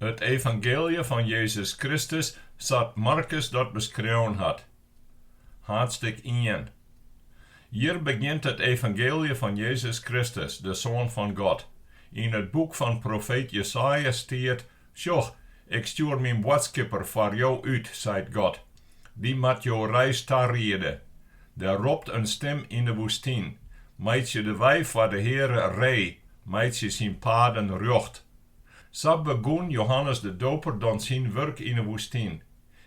It Evangeelje fan Jezus Kristus sa't Markus dat beskreaun hat. Haadstik ien. Hjir begjint it Evangeelje fan Jezus Kristus, de Soan fan God. Yn it boek fan profeet Jesaja stiet, Sjoch, Ik stjoer myn boadskipper foar jo út, seit God. Dy moat jo reis tariede. Der ropt in stim yn de woestyn, Meitsje de wei foar de Heare ree, Meitsje syn paden rjocht. Sa begûn Johannes de Doper dan syn wurk yn 'e woestyn.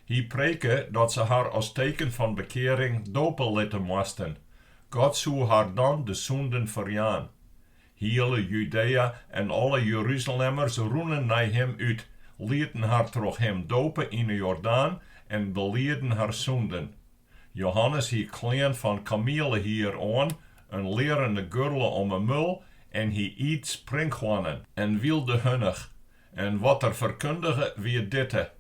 Hy preke dat se har as teken fan bekearing dope litte moasten. God soe har dan de sûnden ferjaan. Hiele Judea en alle Jeruzalemmers rûnen nei him út, lieten har troch him dope yn 'e Jordaan en belieden har sûnden. Johannes hie klean fan kamielehier oan, in learene gurle om 'e mul en hy iet sprinkhoannen en wylde hunnich. En wat er ferkundige wie ditte,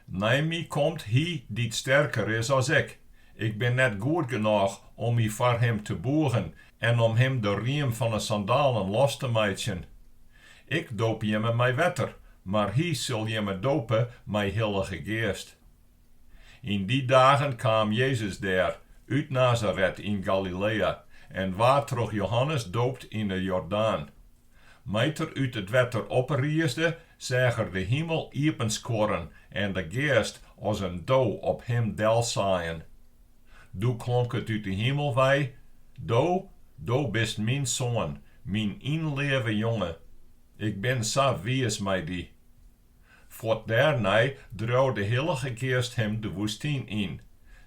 Nei my komt hy dy't sterker is as ik. Ik bin net goed genôch om my foar him te boegen en om him de riem fan 'e sandalen los te meitsjen. Ik doop jimme mei wetter, mar hy sil jimme dope mei Hillige Geast. Yn dy dagen kaam Jezus dêr út Nazaret yn Galilea en waard troch Johannes doopt yn 'e Jordaan. Mei't er út it wetter opriesde, seach er de himel iepenskuorren en de Geast as in do op him delsaaien. Doe klonk it út 'e himel wei, Do, do bist myn Soan, myn ynleave Jonge. Ik bin sa wiis mei dy. Fuort dêrnei dreau de hillige geast him de woestyn yn.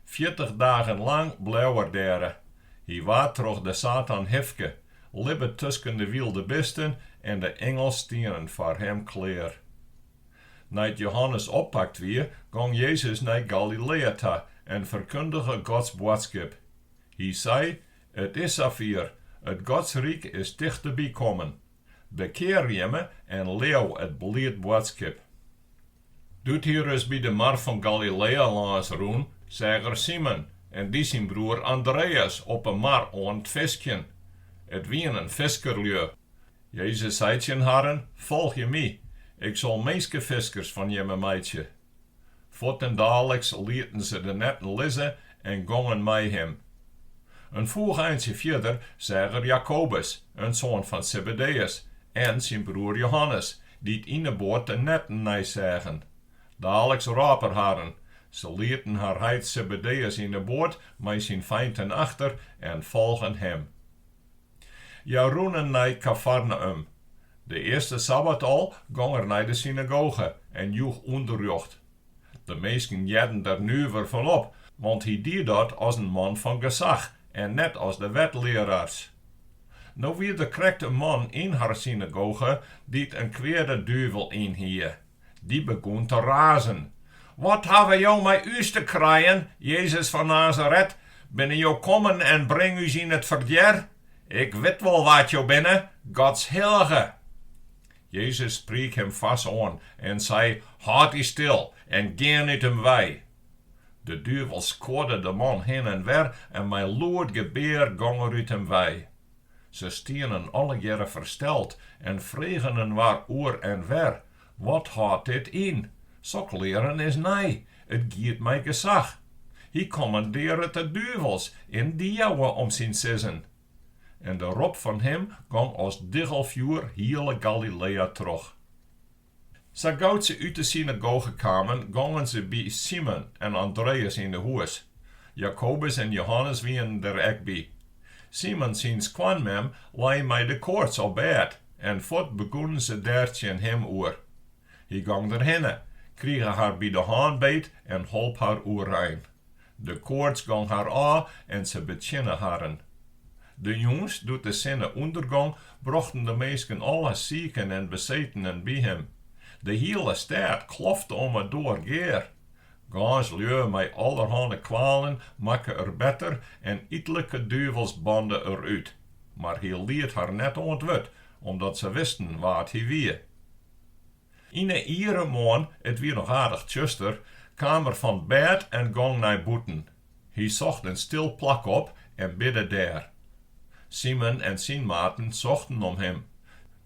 Fjirtich dagen lang bleau er dêr. Hy waard troch de Satan hifke, libbe tusken de wylde bisten en de ingels stienen foar him klear. Nei't Johannes oppakt wie, gong Jezus nei Galilea ta en ferkundige Gods boadskip. Hy sei, It is safier, it Gods ryk is tichteby kommen. Bekear jimme en leau it bliid boadskip. Doe't hy ris by de mar fan Galilea lâns rûn, seach er Simon en dy syn broer Andreas op 'e mar oan 't fiskjen. It wienen fiskerlju. Jezus sei tsjin harren, Folgje my, ik sil minskefiskers fan jimme meitsje. Fuortendaliks lieten se de netten lizze en gongen mei him. In foech eintsje fierder seach er Jakobus, in soan fan Sebedeus, en syn broer Johannes, dy't yn 'e boat de netten neiseagen. Daliks rôp er harren. Se lieten har heit Sebedeus yn 'e boat mei syn feinten achter en folgen him. Hja rûnen nei Kafarneüm. De earste sabbat al gong er nei de synagoge en joech ûnderrjocht. De minsken hearden der nuver fan op, want hy die dat as in man fan gesach en net as de wetlearaars. No wie der krekt in man yn har synagoge dy't in kweade duvel yn hie. Dy begûn te razen. Wat hawwe jo mei ús te krijen, Jezus fan Nazaret? Binne jo kommen en bring ús yn it ferdier? Ik wit wol wa't jo binne, Gods hillige. Jezus spriek him foars oan en sei, Hâld dy stil en gean út him wei! De duvel skuorde de man hinne en wer en mei lûd gebear gong er út him wei. Se stienen allegearre fersteld en fregen inoar oer en wer, Wat hâldt dit yn? Sok learen is nij, it giet mei gesach. Hy kommandearret de duvels en dy jouwe om syn sizzen. En de rop fan him gong as diggelfjoer hiele Galilea troch. Sa gau't se út de synagoge kamen, gongen se by Simon en Andreas yn 'e hûs. Jakobus en Johannes wienen der ek by. Simon syn skoanmem lei mei de koarts op bêd en fuort begûnen se dêr tsjin him oer. Hy gong derhinne, krige har by de hân beet en holp har oerein. De koarts gong har ôf en se betsjinne harren. De jûns, doe't de sinne ûndergong, brochten de minsken alle siken en besetenen by him. De hiele stêd klofte om 'e doar gear. Gâns lju mei allerhande kwalen makke er better en itlike duvels bande er út, mar hy liet har net oan 't wurd, omdat se wisten wa't hy wie. Yn 'e iere moarn, it wie noch aardich tsjuster, kaam er fan bêd en gong nei bûten. Hy socht in stil plak op en bidde dêr. Simon en syn maten sochten om him.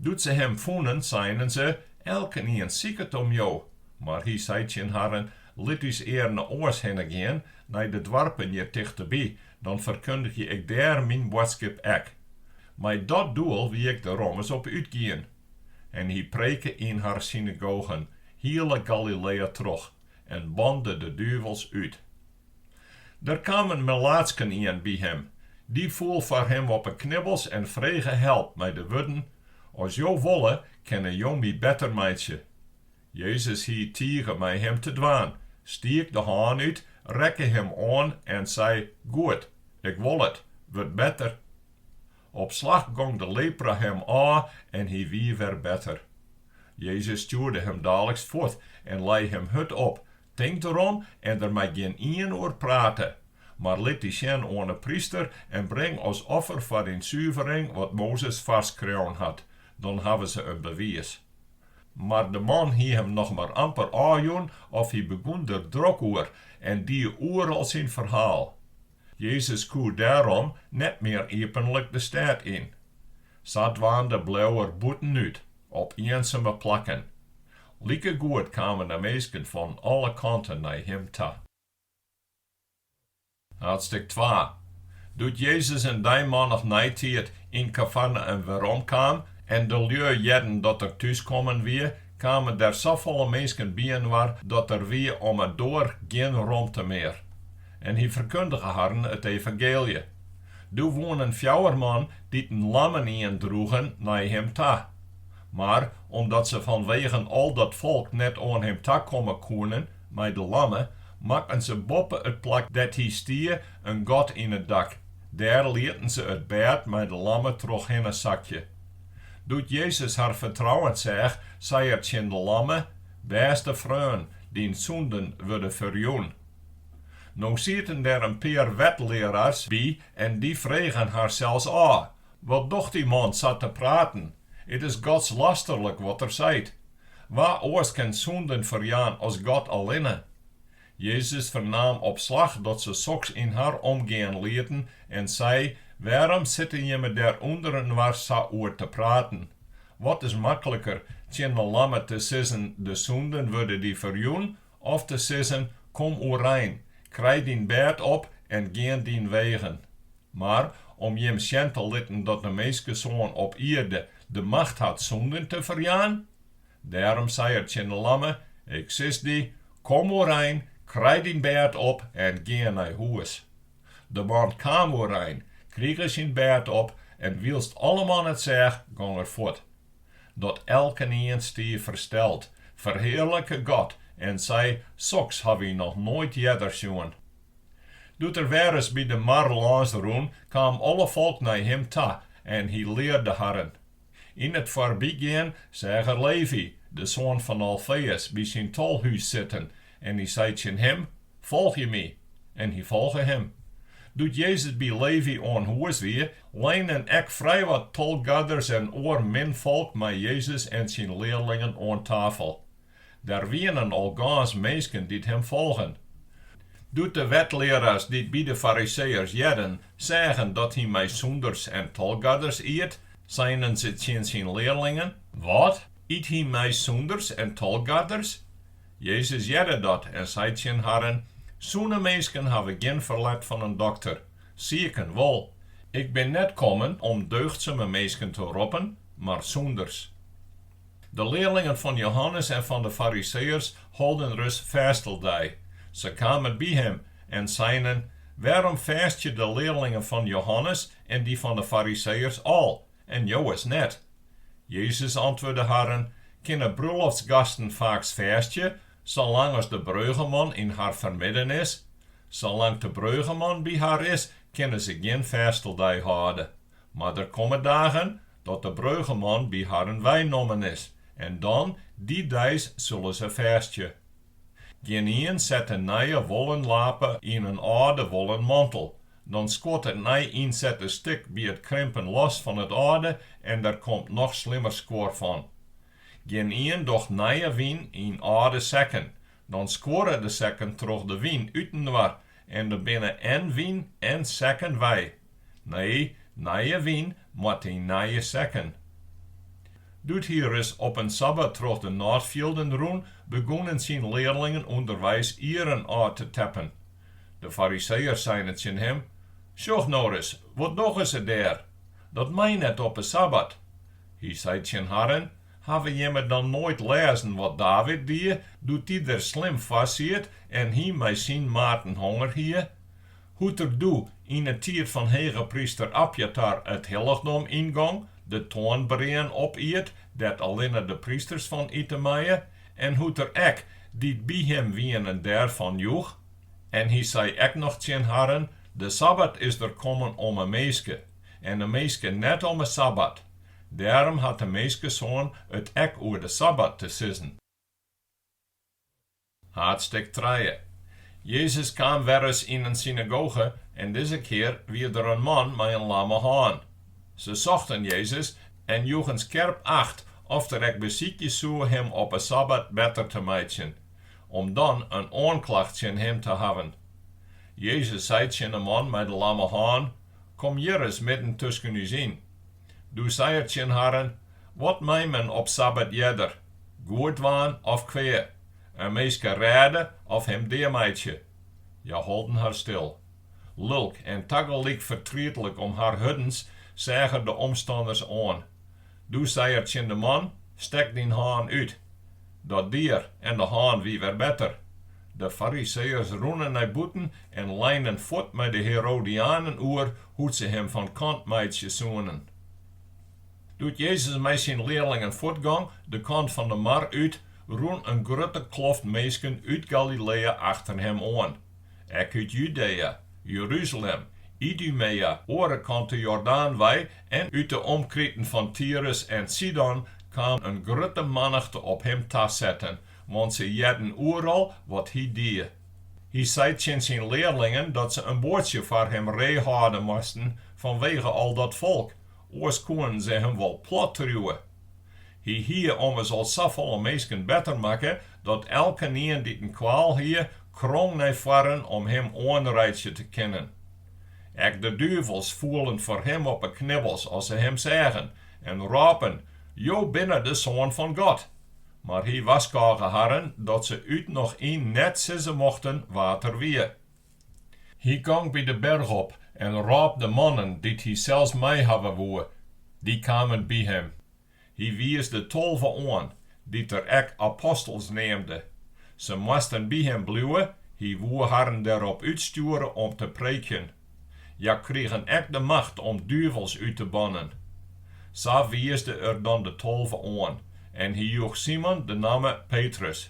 Doe't se him fûnen, seinen se, Elkenien siket om jo. Mar hy sei tsjin harren, Lit ús earne oars hinne gean, nei de doarpen hjir tichteby, dan ferkundigje ik dêr myn boadskip ek. Mei dat doel wie ik der ommers op útgien. En hy preke yn har synagogen hiele Galilea troch en bande de duvels út. Der kaam in melaatsken ien by him, dy foel foar him op 'e knibbels en frege help mei de wurden, As jo wolle, kinne jo my better meitsje. Jezus hie tige mei him te dwaan, stiek de hân út, rekke him oan en sei, Goed, ik wol it, wurd better. Op slach gong de lepra him ôf en hy wie wer better. Jezus stjoerde him daliks fuort en lei him hurd op, tinkt derom en der mei gjin ien oer prate, mar lit dy sjen oan 'e pryster en bring as offer foar dyn suvering wat Mozes foarskreaun hat, dan hawwe se in bewiis. Mar de man hie him noch mar amper ôfjûn of hy begûn der drok oer en die oeral syn ferhaal. Jezus koe dêrom net mear iepenlik de stêd yn. Sadwaande bleau er bûtenút, op ienseme plakken. Likegoed kamen der minsken fan alle kanten nei him ta. Haadstik twa. Doe't Jezus in dei mannich neitiid yn Kafarnaüm werom kaam en de lju hearden dat er thús kommen wie, kamen der safolle minsken byinoar dat der wie om 'e doar gjin romte mear. En hy ferkundige harren it evangeelje. Doe woenen fjouwer man dy't in lammen ien droegen nei him ta. Mar omdat se fanwegen al dat folk net oan him ta komme koene mei de lamme, makken se boppe it plak dêr't hy stie in gat yn it dak, dêr lieten se it bêd mei de lamme trochhinne sakje. Doe't Jezus har fertrouwen seach, sei er tsjin de lamme, Bêste freon, dyn sûnden wurde ferjûn. No sieten der in pear wetlearaars by en dy fregen harsels ôf, Wat docht dy man sa te praten? It is godslasterlik wat er seit. Wa oars kin sûnden ferjaan as God allinne? Jezus fernaam op slach dat se soks yn har omgean lieten en sei, Wêrom sitte jimme dêr ûnderinoar sa oer te praten? Wat is makliker, tsjin de lamme te sizzen, De sûnden wurde dy ferjûn, Of te sizzen, Kom oerein, krij dyn bêd op en gean dyn wegen. Mar om jim sjen te litten dat de minskesoan op ierde de macht hat sûnden te ferjaan. Dêrom sei er tsjin de lamme, Ik sis dy, Kom oerein, krij dyn bêd op en gean nei hûs. De man kaam oerein, krige syn bêd op en wylst alleman it seach, gong er fuort. dat elkenien stie fersteld, ferhearlike God en sei, Soks ha wy noch noait earder sjoen. Doe't er wer ris by de mar lâns rûn, kaam alle folk nei him ta en hy learde harren. Yn it foarbygean seach er Levi, de soan fan Alfeus, by syn tolhûs sitten En hy sei tsjin him, Folgje my. En hy folge him. Doe't Jezus by Levy oan hûs wie, leinen ek frijwat tolgaders en oar minfolk mei Jezus en syn learlingen oan tafel. Der wienen al gâns minsken dy't him folgen. Doe't de wetlearaars dy't by de Fariseeërs hearden, seagen dat hy mei sûnders en tolgaders iet, seinen se tsjin syn learlingen, Wat, yt hy mei sûnders en tolgaders? Jezus hearde dat en sei tsjin harren, Sûne minsken hawwe gjin ferlet fan in dokter, siken wol. Ik bin net kommen om deugdsume minsken te roppen, mar sûnders. De learlingen fan Jehannes en fan de Fariseeërs holden ris fêsteldei. Se kamen by him en seinen, Wêrom fêstje de learlingen fan Jehannes en dy fan de Fariseeërs al, En jowes net. Jezus antwurde harren, Kinne brûloftsgasten faaks fêstje, salang as de breugeman yn har fermidden is? Salang't de breugeman by har is, kinne se gjin fêsteldei hâlde. Mar der komme dagen, dat de breugeman by harren weinommen is, en dan, dy deis, sille se fêstje. Gjinien set in nije wollen lape yn in âlde wollen mantel. Dan skuort it nij ynsette stik by it krimpen los fan it âlde en der komt noch slimmer skuor fan. Gjinien docht nije wyn yn âlde sekken. Dan skuorre de sekken troch de wyn útinoar en dan binne en wyn en sekken wei. Nee, nije wyn moat yn nije sekken. Doe't hy ris op in sabbat troch de nôtfjilden rûn, begûnen syn learlingen ûnderweis ieren ôf te teppen. De Fariseeërs seinen tsjin him, Sjoch no ris, wat dogge se dêr? Dat mei net op 'e sabbat. Hy sei tsjin harren, Hawwe jimme dan noait lêzen wat David die, doe't dy der slim foar siet en hy mei syn maten honger hie? Hoe't er doe yn 'e tiid fan hegepryster Abjatar it hillichdom yngong, de toanbreaen opiet, dêr't allinne de prysters fan ite meie, en hoe't er ek, dy't by him wienen, dêrfan joech. En hy sei ek noch tsjin harren, De sabbat is der kommen om 'e minske, en de minske net om 'e sabbat. Dêrom hat de Minskesoan it ek oer de sabbat te sizzen. Haadstik trije. Jezus kaam werris yn in synagoge en dizze kear wie der in man mei in lamme hân. Se sochten Jezus en joegen skerp acht oft er ek besykje soe him op 'e sabbat better te meitsjen, om dan in oanklacht tsjin him te hawwen. Jezus sei tsjin 'e man mei de lamme hân, Kom hjir ris midden tusken ús yn. Doe sei er tsjin harren, Wat mei men op sabbat earder? Goed dwaan of kwea, in minske rêde of him dea meitsje. Hja holden har stil. Lulk en tagelyk fertrietlik om har hurdens seach er de omstanners oan. Doe sei er tsjin de man, Stek dyn hân út. Dat die er en de hân wie wer better. De Fariseeërs rûnen nei bûten en leinen fuort mei de Herodianen oer hoe't se him fan kant meitsje soenen. Doe't Jezus mei syn learlingen fuortgong de kant fan de mar út, rûn in grutte kloft minsken út Galilea achter him oan. Ek út Judea, Jeruzalem, Idumea, oare kant de Jordaan wei en út de omkriten fan Tirus en Sidon kaam in grutte mannichte op him ta setten, want se hearden oeral wat hy die. Hy sei tsjin syn learlingen dat se in boatsje foar him ree hâlde moasten fanwege al dat folk, oars koenen se him wol plat triuwe. Hy hie ommers al safolle minsken better makke, dat elkenien dy't in kwaal hie, krong nei foaren om him oanreitsje te kinnen. Ek de duvels foelen foar him op 'e knibbels as se him seagen, en rôpen, Jo binne de Soan fan God! Mar hy warskôge harren dat se út noch yn net sizze mochten wa't er wie. Hy gong by de berch op en rôp de mannen dy't hy sels mei hawwe woe. Dy kamen by him. Hy wiisde tolve oan, dy't er ek apostels neamde. Se moasten by him bliuwe, hy woe harren derop útstjoere om te preekjen. Hja krigen ek de macht om duvels út te bannen. Sa wiisde er dan de tolve oan en hy joech Simon de namme Petrus.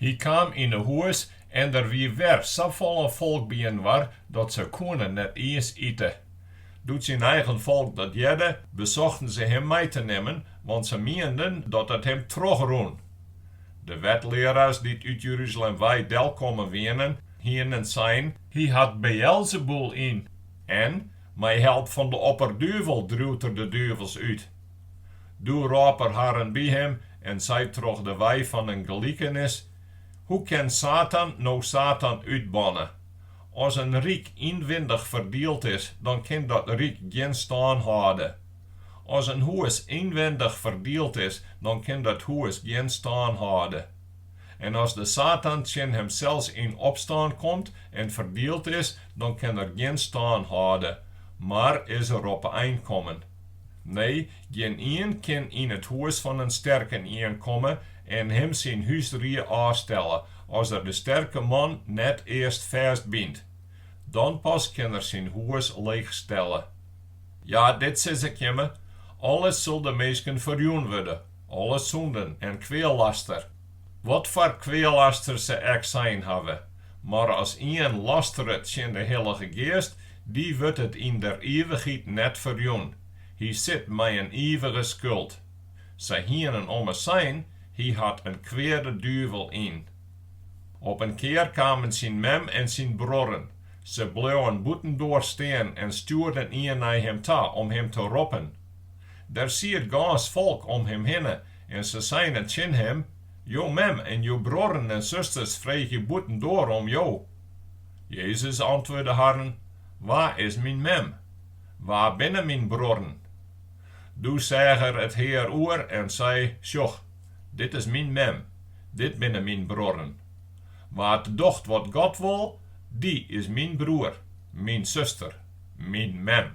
Hy kaam yn 'e hûs en der wie wer safolle folk byinoar dat se koene net iens ite. Doe't syn eigen folk dat hearde, besochten se him mei te nimmen, want se mienden dat it him trochrûn. De wetlearaars dy't út Jeruzalem wei del kommen wienen, hienen sein, Hy hat Beëlzebûl yn, en mei help fan de opperduvel driuwt er de duvels út. Doe rôp er harren by him en sei troch de wei fan in gelikenis, Hoe kin Satan no Satan útbanne? As in ryk ynwindich ferdield is, dan kin dat ryk gjin stân hâlde. As in hûs ynwindich ferdield is, dan kin dat hûs gjin stân hâlde. En as de Satan tsjin himsels yn opstân komt en ferdield is, dan kin er gjin stân hâlde, mar is er op 'e ein kommen. Nee, gjinien kin yn it hûs fan in sterkenien komme en him syn húsrie ôfstelle, as er de sterke man net earst fêstbynt. Dan pas kin er syn hûs leechstelle. Ja, dit sis ik jimme, alles sil de minsken ferjûn wurde, alle sûnden en kwealaster. Wat foar kwealaster se ek sein hawwe, mar as ien lasteret tsjin de Hillige Geast, dy wurdt it yn der ivichheid net ferjûn. Hy sit mei in ivige skuld. Sy hienen ommers sein, Hy hat in kweade duvel yn. Op in kear kamen syn mem en syn bruorren. Se bleauen bûtendoar stean en stjoerden ien nei him ta om him te roppen. Der siet gâns folk om him hinne En se seine tsjin him, Jo mem en jo bruorren en susters freegje bûtendoar om jo. Jezus antwurde harren, Wa is myn mem? Wa binne myn bruorren? Doe seach er it hear oer en sei, Sjoch, dit is myn mem, dit binne myn bruorren. Wa't docht wat God wol, dy is myn bruor, myn suster, myn mem.